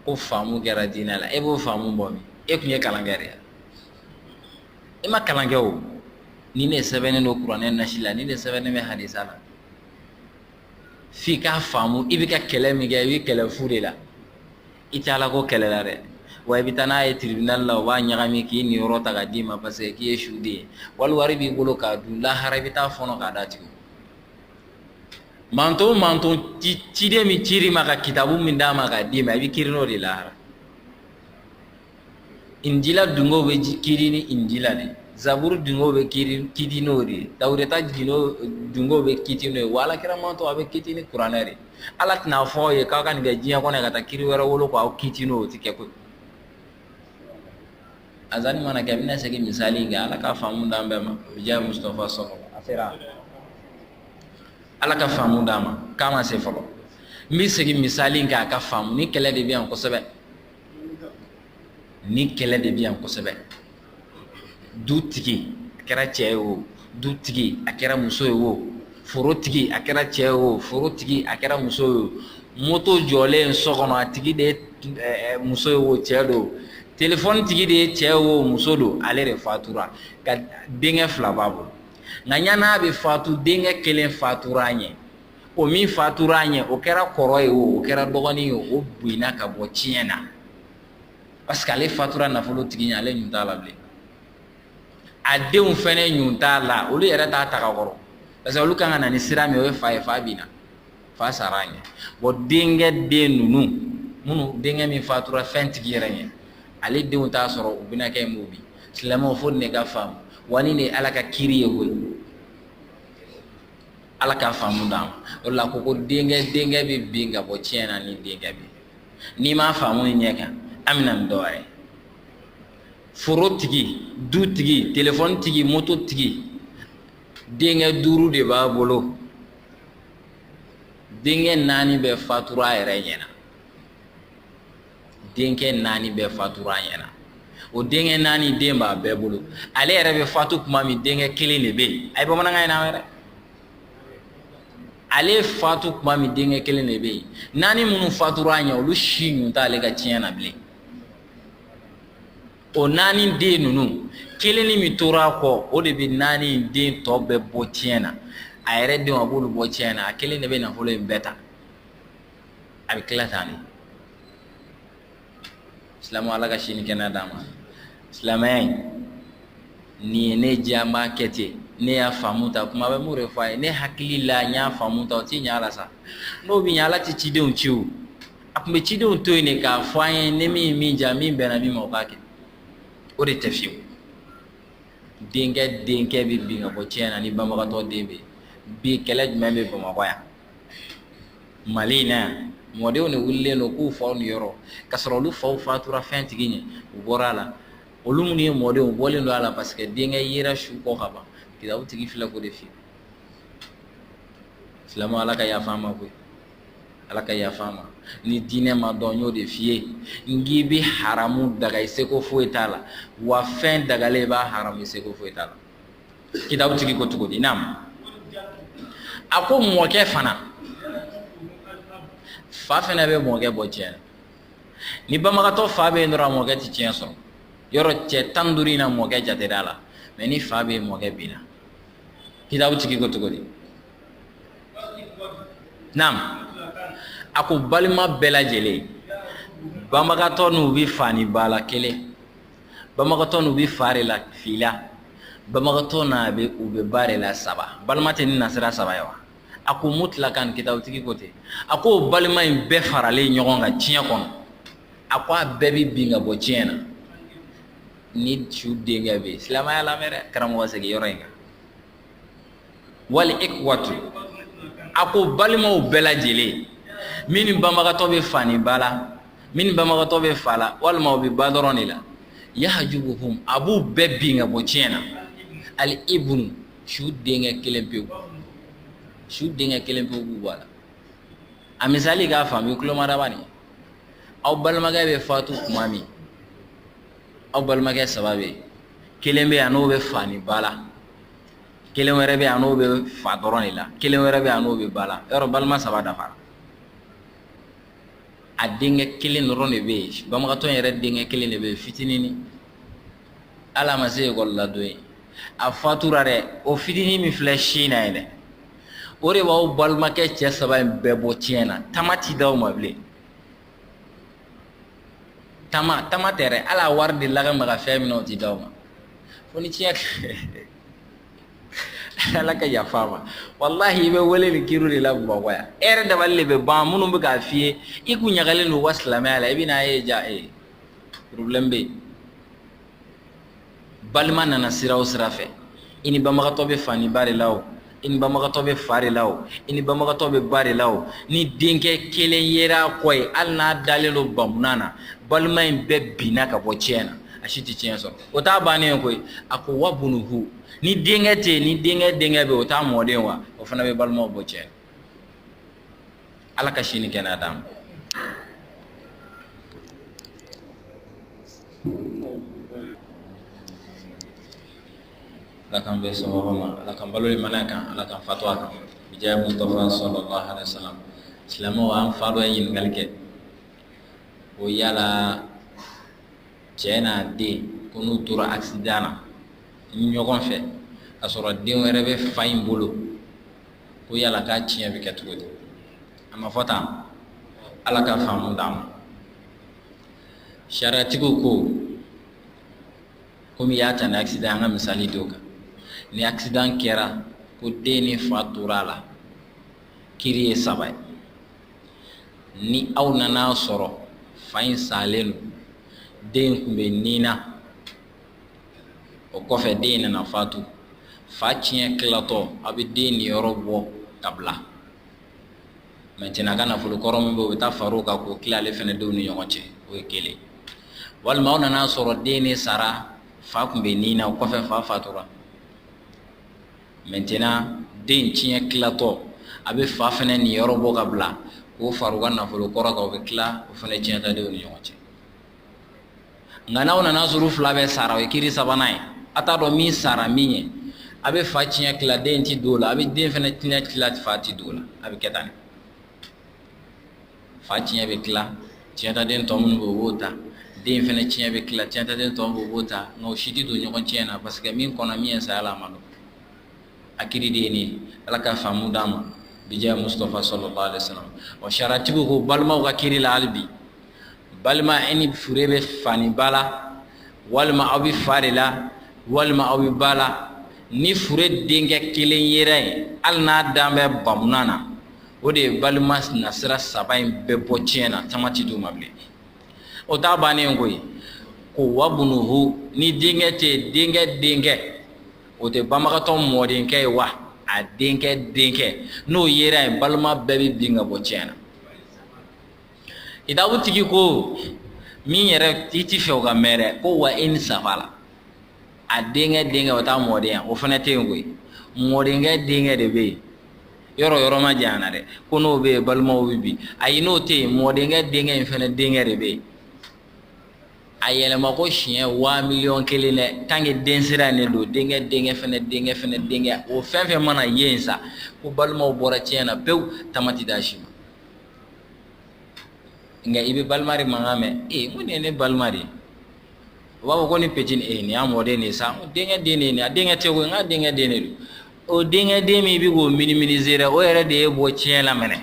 ko faamu kɛra diinɛ la e b'o faamu bɔ min e tun ye kalankɛ de ye e ma kalan kɛ o nin de sɛbɛnnen don kuranɛ nasi la nin de sɛbɛnnen bɛ hadisa la f'i k'a faamu i bɛ ka kɛlɛ min kɛ i bɛ kɛlɛ fu de la I tɛ ala ko kɛlɛ la dɛ wa i bɛ taa n'a ye tribunal la u b'a ɲagami k'i niyɔrɔ ta k'a d'i ma parce que k'i ye suden ye wali wari b'i bolo k'a dun lahara i bɛ t'a fɔɔnɔ k'a d'a tigi manto man ciden min cir'i ma ka kitabu min d'a ma k'a d'i ma i bɛ kiiri n'o de lahara Injila dungo bɛ kiri ni Injila de ye, Zaburu dungo bɛ kiri kiti n'o de ye, Tawureta gindo dungo bɛ kiti n'o ye, wa Ala kira manton a bɛ kiti ni kuranɛ de ye, Ala tɛna fɔ aw ye k'aw ka nin kɛ diɲɛ kɔnɔ yan ka taa kiri wɛrɛ wolo k'aw kiti n'o ye, o tɛ kɛ koyi, azani mana kɛ n bɛna segin misali in kan Ala ka faamu d'an bɛɛ ma, bi jaahi Musitafa sɔlɔ, a sera Ala ka faamu d'an ma k'a ma se fɔlɔ, n bɛ segin misali in kan a k'a faamu nin kɛlɛ de bɛ yan kosɛbɛ. nin kɛlɛ de bɛ yan kosɛbɛ dutigi a kɛra cɛ ye o dutigi a kɛra muso ye o forotigi a kɛra cɛ ye o forotigi a kɛra muso ye o moto jɔlen so kɔnɔ a tigi de ye muso ye o cɛ don telefɔni tigi de ye cɛ ye o muso don ale de fatura ka denkɛ fila b'a bolo nka ɲan'a bɛ fatu denkɛ kelen fatura a ɲɛ o min fatura a ɲɛ o kɛra kɔrɔ ye o kɛra dɔgɔnin ye o binna ka bɔ tiɲɛ na parce que ale fatura nafolo tigi ɲɛ ale ɲun t'a la bilen a denw fana ɲun t'a la olu yɛrɛ t'a ta ka kɔrɔ parce que olu kan ka na ni sira min o ye fa ye fa binna fa sara a ɲɛ bon denkɛ den ninnu minnu denkɛ min fatura fɛn tigi yɛrɛ ɲɛ ale denw t'a sɔrɔ u bɛna kɛ mun bi silamɛw fo nin ka faamu wa nin de ye ala ka kiri ye koyi ala ka faamu d'an ma o la ko ko denkɛ denkɛ bɛ bin ka bɔ tiɲɛ na ni denkɛ bɛ n'i m'a faamu nin ɲɛ kan an bɛ na ni dɔ wɛrɛ ye foro tigi du tigi telefɔni tigi moto tigi denkɛ duuru de b'a bolo denkɛ naani bɛɛ fatura a yɛrɛ ɲɛna denkɛ naani bɛɛ fatura a ɲɛna o denkɛ naani den b'a bɛɛ bolo ale yɛrɛ bɛ fatu tuma min denkɛ kelen de bɛ yen a ye bamanankan in na wɛrɛ ale fatu tuma min denkɛ kelen de bɛ yen naani minnu fatura a ɲɛ olu si ɲun t'ale ka tiɲɛ na bilen o naani den ninnu kelennin min tora a kɔ o de bɛ naani den tɔ bɛɛ bɔ tiɲɛ na a yɛrɛ denw a b'olu bɔ tiɲɛ na a kelen de bɛ nafolo in bɛɛ ta a bɛ tila tan de silamɛ ala ka si ni kɛnɛya d'an ma silamɛya in nin ye ne diya n b'a kɛ ten ne y'a faamu tan kuma bɛ mun de fɔ a ye ne hakili la n y'a faamu tan o tɛ ɲɛ a la sa n'o bɛ ɲɛ ala tɛ cidenw ci o a tun bɛ cidenw to yen de k'a fɔ an ye ni min ye min diya min bɛnna min ma o k'a kɛ o de tɛ fiyewu denkɛ denkɛ bɛ bin ka bɔ tiɲɛ na ni banbagatɔ den bɛ bi kɛlɛ jumɛn bɛ bamakɔ yan mali in na yan mɔdenw de wulilen don k'u faw niyɔrɔ ka sɔrɔ olu faw fatura fɛn tigi ɲɛ u bɔra a la olu minnu ye mɔdenw bɔlen don a la parce que denkɛ yera su kɔ ka ban kitabu tigi filɛ k'o de f'i ye silamɛ ala ka yafa an ma koyi ala ka yafa an ma ni diinɛ ma dɔn n y'o de f'i ye n k'i bɛ haramu daga i seko foyi t'a la wa fɛn dagalen i b'a haramu i seko foyi t'a la kitabu tigi ko cogo di naam a ko mɔkɛ fana fa fana bɛ mɔkɛ bɔ tiɲɛ na ni banbagatɔ fa bɛ yen dɔrɔn mɔkɛ tɛ tiɲɛ sɔrɔ yɔrɔ cɛ tan ni duuru in na mɔkɛ jatera a la mais ni fa bɛ yen mɔkɛ binna kitabu tigi ko cogo di naam a ko balima bɛɛ lajɛlen banbagatɔ n'u bɛ fa ni ba la kelen banbagatɔ n'u bɛ fa de la fila banbagatɔ n'a bɛ u bɛ ba de la saba balima tɛ ni nasira saba ye wa a ko mutlakan kitabu tigi ko ten a ko balima in bɛɛ faralen ɲɔgɔn kan tiɲɛ kɔnɔ a ko a bɛɛ bɛ bin ka bɔ tiɲɛ na ni su denkɛ bɛ yen silamɛya lamɛn dɛ karamɔgɔ segin yɔrɔ in kan wali ikwatu a ko balimaw bɛɛ lajɛlen min ni banbagatɔ bɛ fa ni ba la min ni banbagatɔ bɛ fa la walima o bɛ ba dɔrɔn de la yahajubuhum a b'u bɛɛ bin ka bɔ tiɲɛ na ali ibunu su denkɛ kelen pewu su denkɛ kelen pewu b'u bɔ a la a misali k'a faamu i kulo mada bani aw balimakɛ bɛ fatu tuma min aw balimakɛ saba bɛ yen kelen bɛ yen a n'o bɛ fa ni ba la kelen wɛrɛ bɛ yen a n'o bɛ fa dɔrɔn de la kelen wɛrɛ bɛ yen a n'o bɛ ba la yɔrɔ balima saba dafara a denkɛ kelen dɔrɔn de bɛ yen banbagatɔ in yɛrɛ denkɛ kelen de bɛ yen fitinin hali a ma se ekɔli la don ye a fatura dɛ o fitinin min filɛ sin na ye dɛ o de b'aw balimakɛ cɛ saba in bɛɛ bɔ tiɲɛ na tama ti d'aw ma bilen tama tama tɛ dɛ hali a wari delila ka maga fɛn min na o ti d'aw ma fo ni tiɲɛ ala ka yafa an ma walahi i bɛ wele nin kiri de la bamakɔ yan e yɛrɛ dabali de bɛ ban minnu bɛ k'a f'i ye i k'u ɲagalen don u ka silamɛya la i bɛn'a ye ja ee problème bɛ yen balima nana sira o sira fɛ i ni banbagatɔ bɛ fa ni ba de la o i ni banbagatɔ bɛ fa de la o i ni banbagatɔ bɛ ba de la o ni denkɛ kelen yera a kɔ ye hali n'a dalen don bamunan na balima in bɛɛ binna ka bɔ tiɲɛ na a si tɛ tiɲɛ sɔrɔ o t'a bannen ye koyi a ko wa bunuhu ni denkɛ tɛ yen ni denkɛ denkɛ bɛ yen o t'a mɔden wa o fana bɛ balimaw bɔ tiɲɛ na Ala ka sini kɛ d' ma ala k'an bɛ ma ala ka balo mana kan ala ka fa kan diɲɛ mu silamɛ an fa dɔ ye ɲininkakali kɛ o yala cɛ n'a den ko n'u tora asi na ɲɔgɔn fɛ a sɔrɔ den wɛrɛ bɛ fa in bolo ko yala k'a tiɲɛ bɛ kɛ cogo di a ma fɔ tan ala ka faamu d'an ma sariyatigiw ko komi y'a ta ni accident an ka misali d'o kan ni accident kɛra ko den ni fa tora a la kiri ye saba ye ni aw nana sɔrɔ fa in salen don den tun bɛ ni na o kɔfɛ den nana fatu fa tiɲɛ tilatɔ a bɛ den niyɔrɔ bɔ ka bila maintenant ka nafolo kɔrɔ min bɛ o bɛ taa far'o kan k'o tila ale fana denw ni ɲɔgɔn cɛ o ye kelen walima aw nana sɔrɔ den in sara fa tun bɛ ni na o kɔfɛ fa fatura maintenant den tiɲɛ tilatɔ a bɛ fa fana niyɔrɔ bɔ ka bila k'o fara a ka nafolo kɔrɔ kan o bɛ tila o fana tiɲɛtadenw ni ɲɔgɔn cɛ nka n'aw nana sɔrɔ fila bɛɛ sara o ye kiri sabanan ye a t'a dɔn min sara min ɲɛ a bɛ fa tiɲɛ tila den tɛ don o la a bɛ den fana tiɲɛ tila fa tɛ don o la a bɛ kɛ tan fa tiɲɛ bɛ tila tiɲɛtaden tɔ minnu bɛ o b'o ta den fana tiɲɛ bɛ tila tiɲɛtaden tɔ bɛ o b'o ta nka o si tɛ don ɲɔgɔn tiɲɛ na parce que min kɔnna min ɲɛ saya la a ma dɔn a kiri de ye nin ye ala ka faamu d'an ma bija musitafa salalahu alayihi wa salama wa sariyatigiw ko balimaw ka kiri la hali bi balima e ni fure bɛ fa ni ba la walima aw bɛ fa de la walima aw bɛ ba la ni fure denkɛ kelen yera yen hali n'a dan bɛ bamunan na o de ye balima nasira saba in bɛɛ bɔ tiɲɛ na tama tɛ d'u ma bilen o t'a bannen koyi ko wabunuhu ni denkɛ tɛ yen denkɛ denkɛ o tɛ banbagatɔ mɔdenkɛ ye wa a denkɛ denkɛ n'o yera yen balima bɛɛ bɛ bin ka bɔ tiɲɛ na kitabutigi ko min yɛrɛ i t'a fɛ o ka mɛn dɛ ko wa in safala a denkɛ denkɛ o t'a mɔden ye wa o fana tɛ yen koyi mɔdenkɛ denkɛ de bɛ yen yɔrɔ yɔrɔ ma janya na dɛ ko n'o bɛ yen balimaw bɛ bin ayi n'o tɛ yen mɔdenkɛ denkɛ in fana denkɛ de bɛ yen a yɛlɛma ko siɲɛ waa miliyɔn kelen dɛ tant que den sira ne don denkɛ denkɛ fɛnɛ denkɛ fɛnɛ denkɛ o fɛn fɛn mana ye yen sa ko balimaw bɔra tiɲɛ na pewu tama tɛ d'a si ma nka i bɛ balima de mankan mɛn ee ko nin ye ne balima de ye u b'a fɔ ko ni petit nin ee nin y'a mɔden de ye sa denkɛ den de ye nin ye a denkɛ tɛ koyi nka denkɛ den de don o denkɛ den min bɛ k'o minimiser dɛ o yɛrɛ de y'i bɔ tiɲɛ la mɛnɛ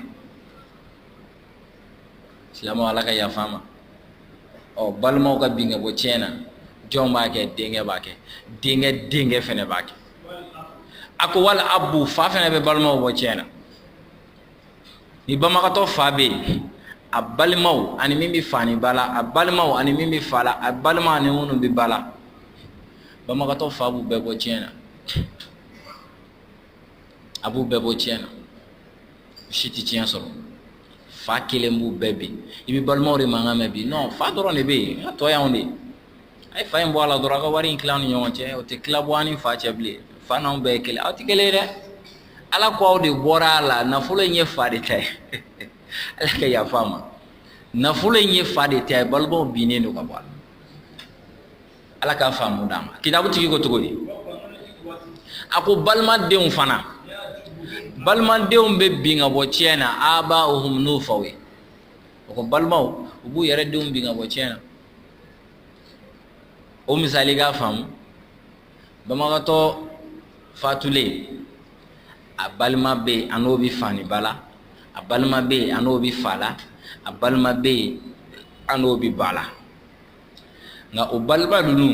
silamɛw ala ka yafa an ma ɔ balimaw ka bin ka bɔ tiɲɛ na jɔn b'a kɛ denkɛ b'a kɛ denkɛ denkɛ fana b'a kɛ a ko wal abu fa fana bɛ balimaw bɔ tiɲɛ na ni banbagatɔ fa bɛ yen a balimaw ani min bɛ fa ni ba la a balimaw ani min bɛ fa la a balima ani minnu bɛ ba la banbagatɔ fa b'u bɛɛ bɔ tiɲɛ na a b'u bɛɛ bɔ tiɲɛ na u si tɛ tiɲɛ sɔrɔ fa kelen b'u bɛɛ bin i bɛ balimaw de mankan mɛn bi non fa dɔrɔn de bɛ yen a tɔ y'anw de ye a ye fa in bɔ a la dɔrɔn a ka wari in tila aw ni ɲɔgɔn cɛ o tɛ tila bɔ an ni fa cɛ bilen fa n'anw bɛɛ ye kelen aw tɛ kelen ye dɛ ala ko aw de bɔra a la nafolo in ye fa de ta ye ala ka yafa an ma nafolo in ye fa de ta ye balimaw binnen don ka bɔ a la ala k'a faamu d'an ma kitabu tigi ko cogo di a ko balimadenw fana balimadenw bɛ bin ka bɔ tiɲɛ na aba'uhum n'u faw ye o ko balimaw u b'u yɛrɛ denw bin ka bɔ tiɲɛ na o misali k'a faamu banbagatɔ fatulen a balima bɛ yen a n'o bɛ fa ni ba la a balima bɛ yen a n'o bɛ fa la a balima bɛ yen a n'o bɛ ba la nka o balima ninnu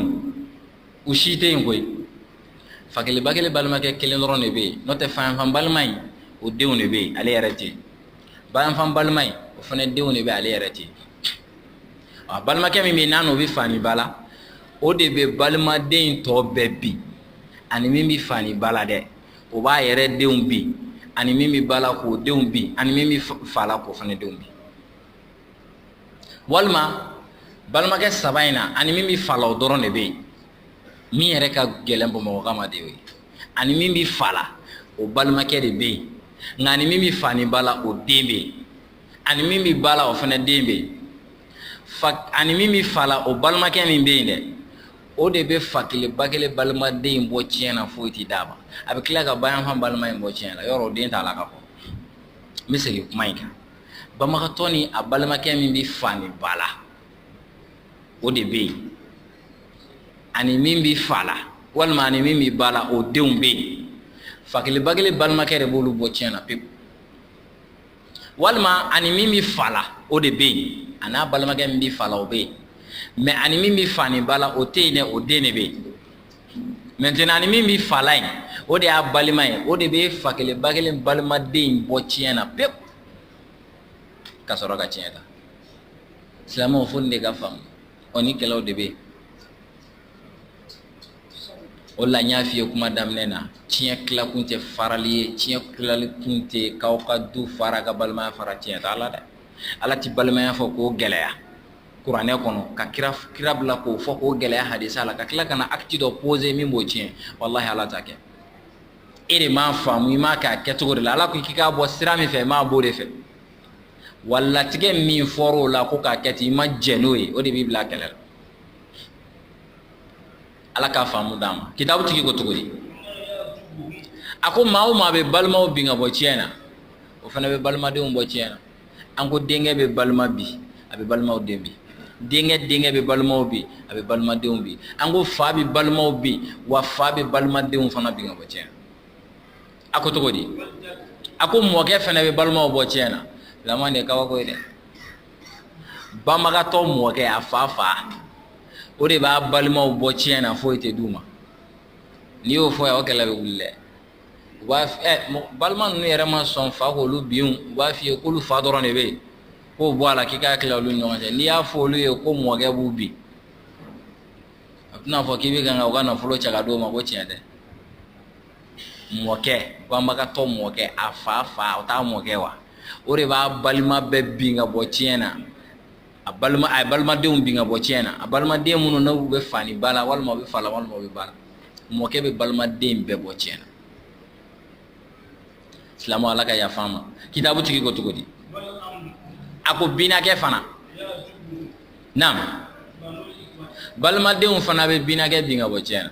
u si tɛ yen koyi fa kelen ba kelen balimakɛ kelen dɔrɔn de bɛ yen n'o tɛ fayanfan balima in o denw de bɛ yen ale yɛrɛ tɛ yen bayanfan balima in o fana denw de bɛ ale yɛrɛ tɛ yen a balimakɛ min bɛ yen n'a n'o bɛ fa ni ba la o de bɛ balimaden in tɔ bɛɛ bin ani min bɛ fa ni ba la dɛ o b'a yɛrɛ denw bin ani min bɛ ba la k'o denw bin ani min bɛ fa la k'o fana denw bin walima balimakɛ saba in na ani min bɛ fa la o dɔrɔn de bɛ yen min yɛrɛ ka gɛlɛn bamakɔkaw ma de ye ani min bɛ fa la o balimakɛ de bɛ yen nka ani min bɛ fa ni ba la o den bɛ yen ani min bɛ ba la o fana den bɛ yen ani min bɛ fa la o balimakɛ min bɛ yen dɛ o de bɛ fa kelen ba kelen balimaden in bɔ tiɲɛ na foyi tɛ d'a ma a bɛ tila ka bayanfan balima in bɔ tiɲɛ na yɔrɔ o den t'a la ka bɔ n bɛ segin kuma in kan banbagatɔ nin a balimakɛ min bɛ fa ni ba la o de bɛ yen ani min bɛ fa la walima ani min bɛ ba la o denw bɛ yen fa kelen ba kelen balimakɛ de b'olu bɔ tiɲɛ na pewu walima a ni min bɛ fa la o de bɛ yen a n'a balimakɛ min bɛ fa la o bɛ yen mɛ a ni min bɛ fa ni ba la o tɛ yen dɛ o den de bɛ yen mɛntɛnan a ni min bɛ fa la yen o de y'a balima ye o de bɛ fa kelen ba kelen balimaden in bɔ tiɲɛ na pewu ka sɔrɔ ka tiɲɛ ta silamɛw fo nin de ka faamu o ni kɛlɛw de bɛ o la n y'a f'i ye kuma daminɛ na tiɲɛ tilakun tɛ farali ye tiɲɛ tilakun tɛ k'aw ka du fara ka balimaya fara tiɲɛ t'a la dɛ ala tɛ balimaya fɔ k'o gɛlɛya kuranɛ kɔnɔ ka kira kira bila k'o fɔ k'o gɛlɛya hadisa la ka tila ka na akiti dɔ pose min b'o tiɲɛ walahi ala t'a kɛ e de m'a faamu i m'a kɛ a kɛcogo de la ala ko k'i k'a bɔ sira min fɛ i m'a b'o de fɛ wa latigɛ min fɔra o la ko k'a kɛ ten i ma jɛn n'o ye o de b'i bila kɛlɛ la ala k'a faamu d'an ma kitabu tigi ko cogo di a ko maa o maa bɛ balimaw bin ka bɔ tiɲɛ na o fana bɛ balimadenw bɔ tiɲɛ na an ko denkɛ bɛ balima bi a bɛ balimaw den bi denkɛ denkɛ bɛ balimaw bi a bɛ balimadenw bi an ko fa bɛ balimaw bi wa fa bɛ balimadenw fana bin ka bɔ tiɲɛ na a ko cogo di a ko mɔkɛ fana bɛ balimaw bɔ tiɲɛ na laban de ye kabako ye dɛ banbagatɔ mɔkɛ a fa fa o de b'a balimaw bɔ tiɲɛ na foyi tɛ d'u ma n'i y'o fɔ yan o kɛlɛ bɛ wuli dɛ wa balima ninnu yɛrɛ ma sɔn fa k'olu bin u b'a f'i ye k'olu fa dɔrɔn de bɛ yen k'o bɔ a la k'i k'a tila olu ɲɔgɔn cɛ n'i y'a fɔ olu ye ko mɔkɛ b'u bin a bɛna a fɔ k'i bɛ kan ka u ka nafolo cɛ k'a d'o ma ko tiɲɛ dɛ mɔkɛ banbagatɔ mɔkɛ a fa fa o t'a mɔkɛ wa o de b'a balima bɛɛ bin ka bɔ tiɲɛ na a ye balimadenw bin ka bɔ tiɲɛ na a balimaden minnu n'u bɛ fa ni ba la walima bɛ fa la walima bɛ ba la mɔkɛ bɛ balimaden bɛɛ bɔ tiɲɛ na silamɛ ala ka yafa an ma kitabu tigi ko cogo di a ko binakɛ fana naamu balimadenw fana bɛ binakɛ bin ka bɔ tiɲɛ na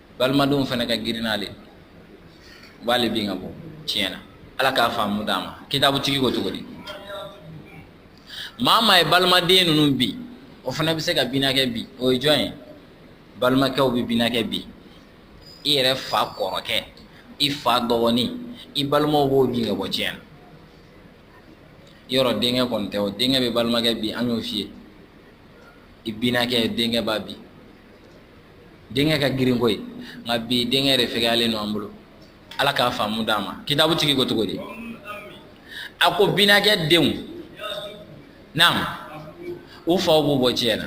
balimadenw fana ka girin n'ale u b'ale bin ka bɔ tiɲɛ na ala k'a faamu d'an ma kitabutigi ko cogo di maa maa ye balimaden ninnu bi o fana bɛ se ka binakɛ bi o ye jɔn ye balimakɛw bɛ binakɛ bi i yɛrɛ fa kɔrɔkɛ i fa dɔgɔnin i balimaw b'o bin ka bɔ tiɲɛ na i yɛrɛ denkɛ kɔni tɛ o denkɛ bɛ balimakɛ bi an y'o f'i ye i binakɛ denkɛ b'a bi denkɛ ka girinko ye nka bi denkɛ de fɛgɛyalen don an bolo ala k'a faamu d'an ma kitabu tigi ko cogo di a ko binakɛ denw naam u faw b'u bɔ tiɲɛ na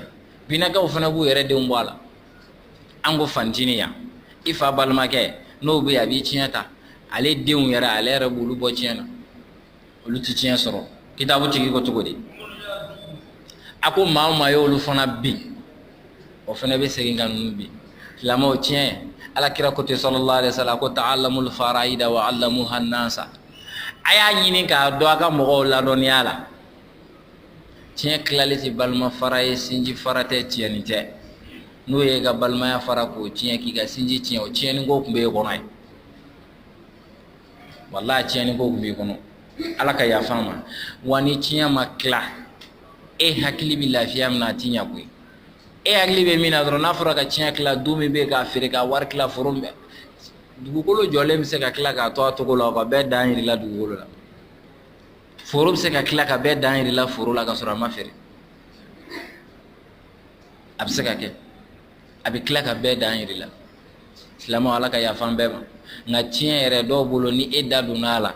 binakɛw fana b'u yɛrɛ denw bɔ a la an ko fancinin yan i fa balimakɛ n'o bɛ yen a b'i tiɲɛ ta ale denw yɛrɛ ale yɛrɛ b'olu bɔ tiɲɛ na olu tɛ tiɲɛ sɔrɔ kitabu tigi ko cogo di a ko maa o maa ye olu fana bin o fana bɛ segin ka ninnu bin silamɛw tiɲɛ ala kira ko ten sallallahu alaihi wasallam ko ta'allamul faraida wa 'allamuha an-nasa a y'a ɲini k'a dɔn a ka mɔgɔw ladɔnniya la tiɲɛ tilali tɛ balima fara ye sinji fara tɛ tiɲɛni tɛ n'o y'i ka balimaya fara k'o tiɲɛ k'i ka sinji tiɲɛ o tiɲɛni ko tun bɛ e kɔnɔ yen wallahi tiɲɛni ko tun b'i kɔnɔ ala ka yafa an ma wa ni tiɲɛ ma tila e hakili bɛ lafiya min na a tɛ ɲɛ koyi e hakili bɛ min na dɔrɔn n'a fɔra ka tiɲɛ tila du min bɛ k'a feere ka wari tila foro bɛ dugukolo jɔlen bɛ se ka tila k'a to a cogo la o ka bɛɛ dan jir'i la dugukolo la foro bɛ se ka tila ka bɛɛ dan jir'i la foro la ka sɔrɔ a ma feere a bɛ se ka kɛ a bɛ tila ka bɛɛ dan jir'i la silamɛw ala ka yafa an bɛɛ ma nka tiɲɛ yɛrɛ dɔw bolo ni e da donna a la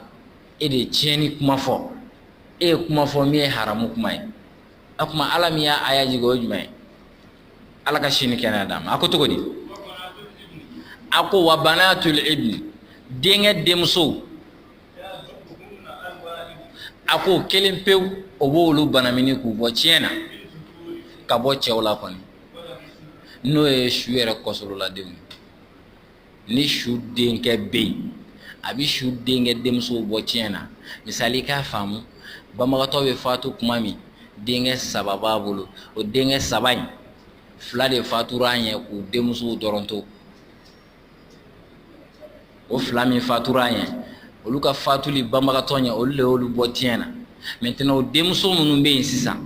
e de ye tiɲɛni kuma fɔ e ye kuma fɔ min ye haramu kuma ye a tuma ala min ye aya jigin o jumɛn ye ala ka si ni kɛnɛya d'a ma a ko cogo di a ko wa banatul ibni denkɛ denmuso a ko kelen pewu o b'olu banamini k'u bɔ tiɲɛ na ka bɔ cɛw la kɔni n'o ye su yɛrɛ kɔsololadenw ye ni su denkɛ bɛ yen a bɛ su denkɛ denmusow bɔ tiɲɛ na misali k'a faamu banbagatɔ bɛ fatu tuma min denkɛ saba b'a bolo o denkɛ saba in fila de fatura a ɲɛ k'u denmusow dɔrɔn to o fila min fatura a ɲɛ olu ka fatuli banbagatɔ ɲɛ olu de y'olu bɔ tiɲɛ na maintenant o denmuso minnu bɛ yen sisan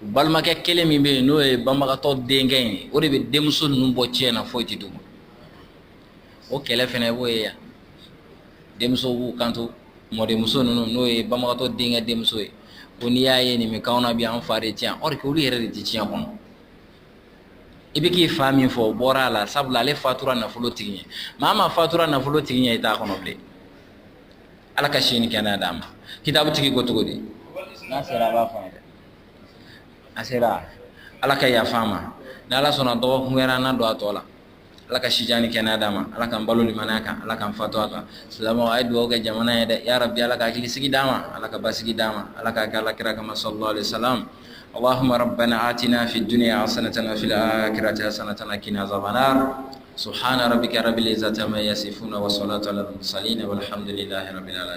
u balimakɛ kelen min bɛ yen n'o ye banbagatɔ denkɛ ye o de bɛ denmuso ninnu bɔ tiɲɛ na foyi tɛ d'u ma o kɛlɛ fana b'o ye yan denmuso b'u kanto mɔdenmuso ninnu n'o ye banbagatɔ denkɛ denmuso ye ko n'i y'a ye nin bɛ k'an na bi an fa de tiɲɛ or que olu yɛrɛ de tɛ tiɲɛ kɔnɔ i bɛ k'i fa min fɔ o bɔra a la sabula ale fatura nafolo tigi ɲɛ maa o maa fatura nafolo tigi ɲɛ i t'a kɔnɔ bilen ala ka si ni kɛnɛya d'a ma kitabu tigi ko cogo di n'a sera a b'a fɔ dɛ a sera ala ka yafa an ma ni ala sɔnna dɔgɔkun wɛrɛ an na don a tɔ la ala ka sija ni kɛnɛya d'a ma ala kaan balo ni maya kan ala kaan fa to a kan silamɛ a ye dugawu kɛ jamana ye dɛ ya bi ala ka hakililisigi d'a ma ala ka basigi d'a ma ala ka ga alakira kama sa sa ahamana a tɛna fi dunya a san tan fi kira caya san tan kina sabanan so hra bɛ kɛra zsama ya se fo na wa sɔnla ta la sa ni wa hamduli lahara bɛ la